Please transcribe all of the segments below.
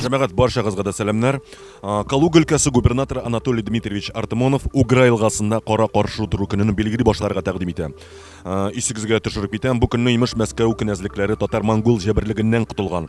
Җәмәгать баршагызга да сәламнәр. Калуга өлкәсе губернаторы Анатолий Дмитриевич Артамонов Угра елгасында кара каршы утыру көнен билгели башларга тәкъдим итә. Исегезгә төшереп китәм, бу көнне имеш Мәскәү кенәзлекләре татар-монгол җәберлегеннән котылган.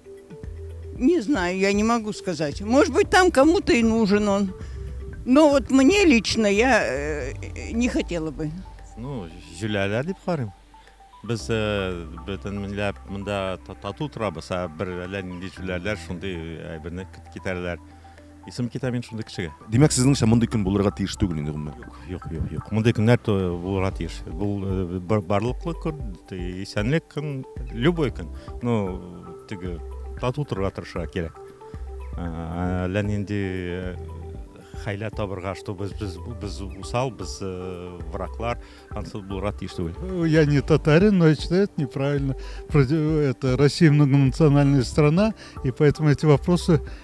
Не знаю, я не могу сказать. Может быть, там кому-то и нужен он. Но вот мне лично я э, не хотела бы. Ну, җүләләр дип карыйм. Без э, бөтен милләт монда та- тату торабыз, ә бер әллә нинди җүләләр шундый әйберне кит- китерәләр. Исем китә мин шундый кешегә. Димәк, сезнеңчә мондый көн булырга тиеш түгел инде гомумән? Юк, юк, юк, юк. Мондый көннәр то булырга тиеш. Бу э, бар- барлыклы көн, те- исәнлек көн, любой көн. Ну, теге тату торырга тырышырга кирәк. Ә, Әллә нинди э, хәйлә табырга, что без без без усал, без э, враклар, ансы булырга тиеш түгел. Ну, Я не татарин, но я считаю это неправильно. Против- Это Россия многонациональная страна, и поэтому эти вопросы